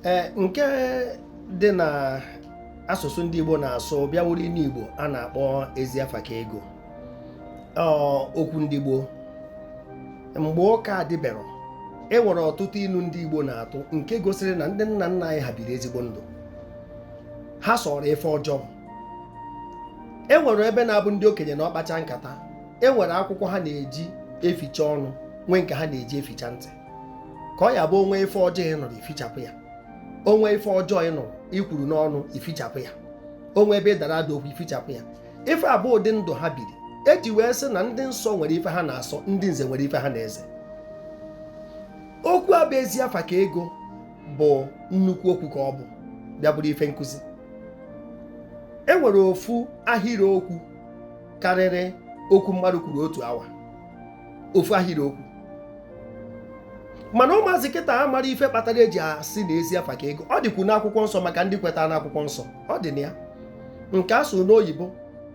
ee nke dị na asụsụ ndị Igbo na-asụ bịa wụrụ inu Igbo a na-akpọ ezi afa ka ego okwu ndị Igbo mgbe ụka adịberọ e nwere ọtụtụ inu ndị Igbo na-atụ nke gosiri na ndị nna nna anyị ha biri ezigbo ndụ ha sọrọ ife ọjọọ e nwere ebe na-abụ ndị okenye nọọ kpacha nkata e nwere akwụkwọ ha na-eji eficha ọnụ nwee nke ha na-eji eficha ntị ka ọ ya-abụ o nwee ife ọjọọ ị nụrụ i fichapụ ya o nwee ife ọjọọ ị nụrụ i kwuru n'ọnụ i fichapụ ya o nwee ebe ị dara ada okwu i fichapụ ya ife a bụ ụdị ndụ ha biri eji wee sị na ndị nsọ nwere ife ha na-asọ ndị nze nwere ife ha na-eze okwu a bụ ezi afa ka ego bụ nnukwu okwu ka ọ bụ bịa bụrụ ife nkụzi e nwere ofu ahịrị okwu karịrị okwu mmadụ kwuru otu awa ofu ahịrị okwu mana ụmụazị kịta amarọ ife kpatara eji asị na ezi afa ka ego ọ dịkwu n'akwụkwọ nsọ maka ndị kwetara n'akwụkwọ nsọ ọ dị na ya nke a sụ n'oyibo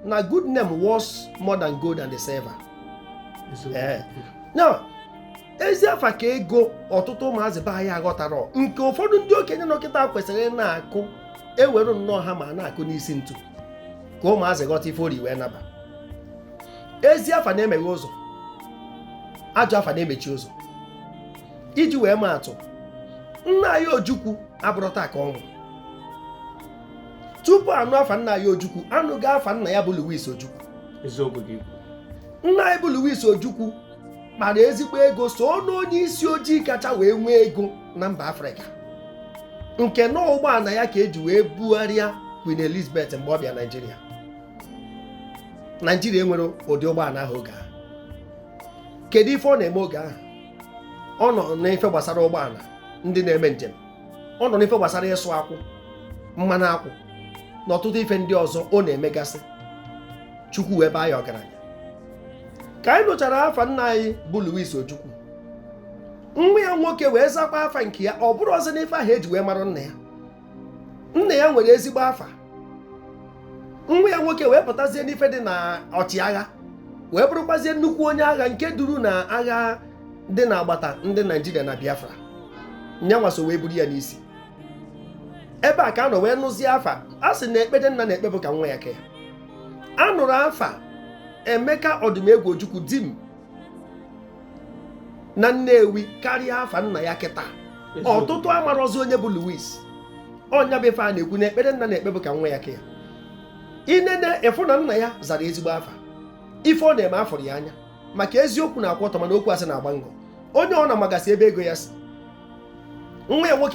na good name worth more than gold and silver eh. now ezi afa ka ego ọtụtụ ụmụazị be anyị aghọtarọ nke ụfọdụ ndị okenye nọ kịta kwesịrị ịna-akụ ewere nnọọ hammer na-akụ n'isi ntu ka ụmụazị ghọta ife ori wee naba ezi afa na-emeghe ụzọ ajọ afa na-emechi ụzọ iji wee maa atụ nna anyị ojukwu abụrọ taa ka ọ nwụ tupu a nụ afa nna anyị ojukwu a nụgo afa nna ya bụ Louis ojukwu nna anyị bụ Louis ojukwu kpara ezigbo ego so n'onye isi ojii kacha wee nwee ego na mba afrịka nke na ụgbọana ya ka eji wee bugharịa Queen Elizabeth mgbe ọ bịa Naịjirịa naijiria enwerọ ụdị ụgbọana ahụ oge ahụ kedu ife ọ na-eme oge ahụ ọ nọ n'ife gbasara ụgbọana ndị na-eme njem ọ nọ n'ife gbasara ịsụ akwụ mmanụ akwụ na ọtụtụ ife ndị ọzọ ọ na-emegasị chukwu wee baa ya ọgaranya ka anyị nụchara afa nna anyị bụ Louis Ojukwu nwa ya nwoke wee zakwa afa nke ya ọ bụrọzi n'ife ahụ eji wee mara nna ya nna ya nwere ezigbo afa nwa ya nwoke wee pụtazie n'ife dị na ọchịagha wee bụrụkwazie nnukwu onye agha nke duru na agha dị na agbata ndị naijiria na biafra nya nwa so wee buru ya n'isi ebe a ka a nọ wee nụzie afa a sị na ekpere nna na-ekpe bụ ka nwa ya ka ya a nụrụ afa emeka odumegwu ojukwu dim na Nnewi karịa afa nna ya kịta ọtụtụ amarọzi onye bụ Louis ọ nya bụ ife a na-ekwu na ekpere nna na-ekpe bụ ka nwa ya ka ya i nene ị fụ na nna ya zara ezigbo afa ife ọ na-eme a fụrụ ya anya maka eziokwu na-akwụ ọtọ mana okwu asị na-agba ngọ onye ọ na-amagasị ebe ego ya si nwa ya nwoke